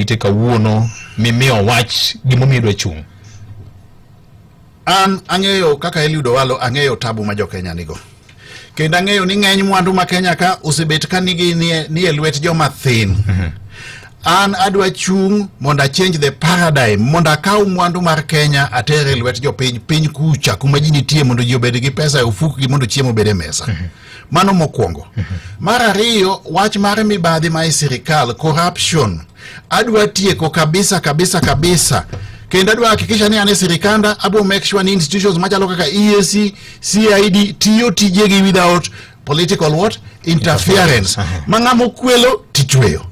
ite kawuono mimiyo wach gimomiyo idwa chung' an ang'eyo kaka Eliud Owalo ang'eyo tabu ma jokenya nigo kendo ang'eyo ni ng'eny mwandu ma Kenya ka osebet ka nigi nie lwet joma thin mhm. an adwa chung' mondo achange the paradigm mondo akaw mwandu mar Kenya atere lwet jopiny piny kucha kuma ji nitie mondo ji obed gi pesa e ofukgi mondo chiemo obed e mesa mhm. Mano mokwongo. Mar ariyo, wach mar mibadhi ma e sirikal, corruption, adwa tieko kabisa kabisa kabisa kendo adwa hakikisha ni an e sirikanda abro make sure ni institutions machalo kaka EAC, CID tiyo tijegi without political what interference ma ng'ama okwelo tichweyo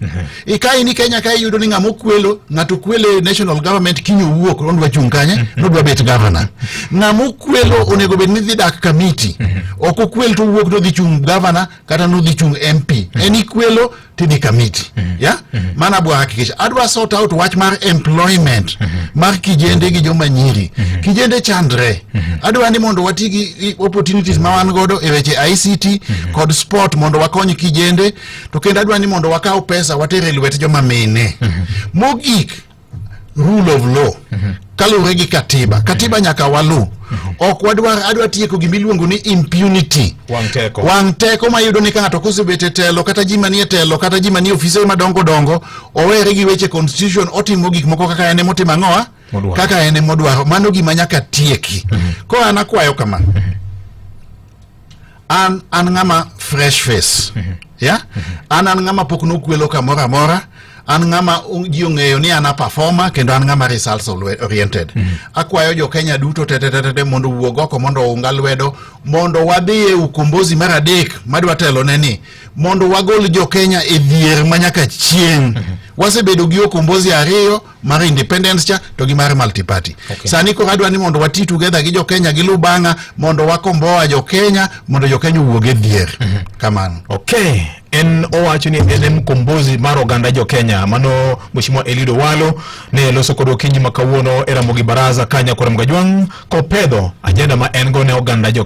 ikae ni Kenya kae yudo ni ng'ama okwelo ng'ato kwele national government kinyo wuok odwa chung' kanye mm-hmm. nodwa bet governor ng'ama okwelo onego bed ni dhi dak kamiti mm-hmm. ok okwel to wuok nodhi chung' governor kata nodhi chung' MP mm-hmm. en ikwelo tidhi kamiti ya mana bwa hakikisha adwa sort out wach mar employment mar kijende gi joma nyiri kijende chandre adwa ni mondo wati gi opportunities ma wan godo e weche ICT kod sport mondo wakony kijende to kendo adwa ni mondo wakaw pesa water e lwet joma mine mhm. mogik rule of law mhm. kaluwore gi katiba katiba nyaka walu mhm. ok wadwar adwa tieko gima iluongo ni impunity wang' teko ma iyudo ni ka ng'ato kosebet e telo kata ji manie telo kata ji manie ofise madongo dongo owere gi weche constitution otimo gik moko kaka en emotimo ang'owa kaka en emodwaro mano gima nyaka tieki koro an akwayo kama an an ng'ama fresh face mhm. ya mhm. an an ng'ama pok nokwelo kamoro amora an ng'ama ji ong'eyo ni an aperforma kendo an ng'ama results oriented mhm. akwayo jo kenya duto tetetetete mondo wuog oko mondo ounga lwedo mondo wadhi e ukombozi mar adek madwa telone ni mondo wagol jo kenya e dhier ma nyaka chieng' wasebedo gi okombozi ariyo mar independence cha to gi mar multiparty okay. Sani koro adwa ni mondo wati together gi jokenya gi lubanga mondo wakomboa jokenya mondo jokenya owuog e dhier mm -hmm. kamano okay en owacho ni en mkombozi mar oganda jo Kenya mano mheshimiwa Elido Walo ne loso kod okinyi ma kawuono e Ramogi Baraza kanya kora mgajwang' kopedho ajenda ma en go ne oganda jo Kenya